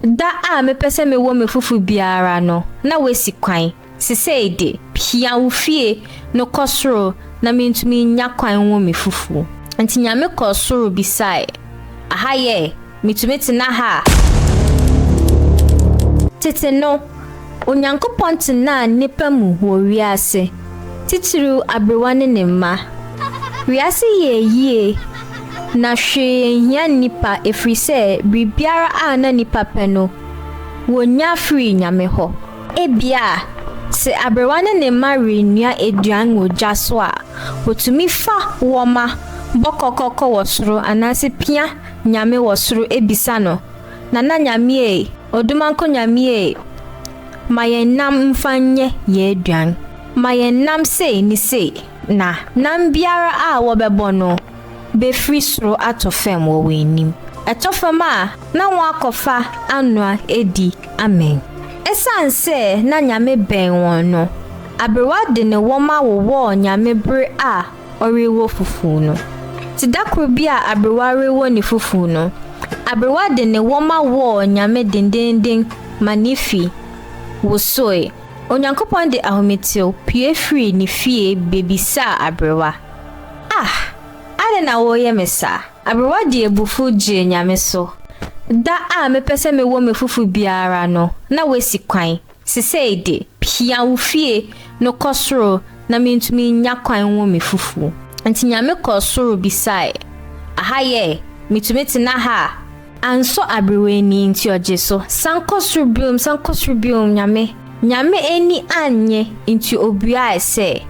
Da a mepɛ sɛ mewɔ me fofo biara no, na woasi kwan. Sesei de, hia wo fie no kɔ soro na mintumi nnya kwan nwo me fofo. Enti Nyame kɔɔ soro bisae, Aha yɛ? Mitumi tena ha a? Tete no, Onyankopɔn tenaa nnipa mu wɔ wiase, titiriw aberewa ne ne mma. Wiase yɛɛ yiye, na hwee nhia nnipa ɛfiri sɛ biribiara a na nnipa pɛ no, wɔnya firii Nyame hɔ. Ebia, sɛ aberewa ne ne mma renoa aduan wɔ gya so a, wɔtumi fa wɔma bɔ kɔkɔkɔ wɔ soro anaasɛ pia Nyame wɔ soro bisa no Nana Nyame ei, Odumankɔ Nyame ei, Ma yɛn nam mfa nyɛ yɛn aduan, Ma yɛn nam sei ne sei na. Nam biara a wɔbɛbɔ no bɛfiri soro atɔ fam wɔ wɔn anim, Ɛtɔ fam a na wɔakɔfa anoa adi amee. Ɛsiane sɛ na Nyame bɛn wɔn no, aberewa de ne wɔma wowɔɔ Nyame bere a ɔrewo fufuw no. Te da koro bi a aberewa rewo ne fufuw no, aberewa de ne wɔma wɔɔ Nyame denneennen ma ne fi wosoe. Onyankopɔn de ahometew pue firii ne fie bebisaa aberewa, Ah! Adɛn na woreyɛ me saa? Aberewa de abufuw gyee Nyame so, Da a mepɛ sɛ mewo me fufuw biara no, na woasi kwan. Sesei de, hia wo fie no kɔ soro na mentumi nnya kwan nwo me fufu. Nti Nyame kɔɔ soro bisae, Aha yɛ? Metumi tena ha a? Ansɔ aberewa ani, nti ɔgye so. San kɔ soro biom, san kɔ soro biom, Nyame. Nyame ani annye, nti obuae sɛ,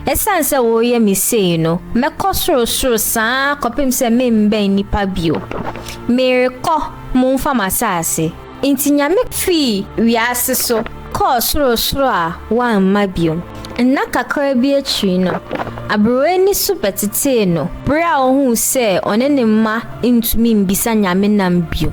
Esiane sɛ woreyɛ me sei no, mɛkɔ sorosoro saa kɔpem sɛ memmɛn nnipa bio. Merekɔ, momfa m'asaase. Enti Nyame fii wiase so kɔɔ sorosoro a wamma bio. Nna kakra bi akyiri no, aberewa ni so bɛtetee no bere a ohuu sɛ ɔne ne mma ntumi mmisa Nyame nam bio.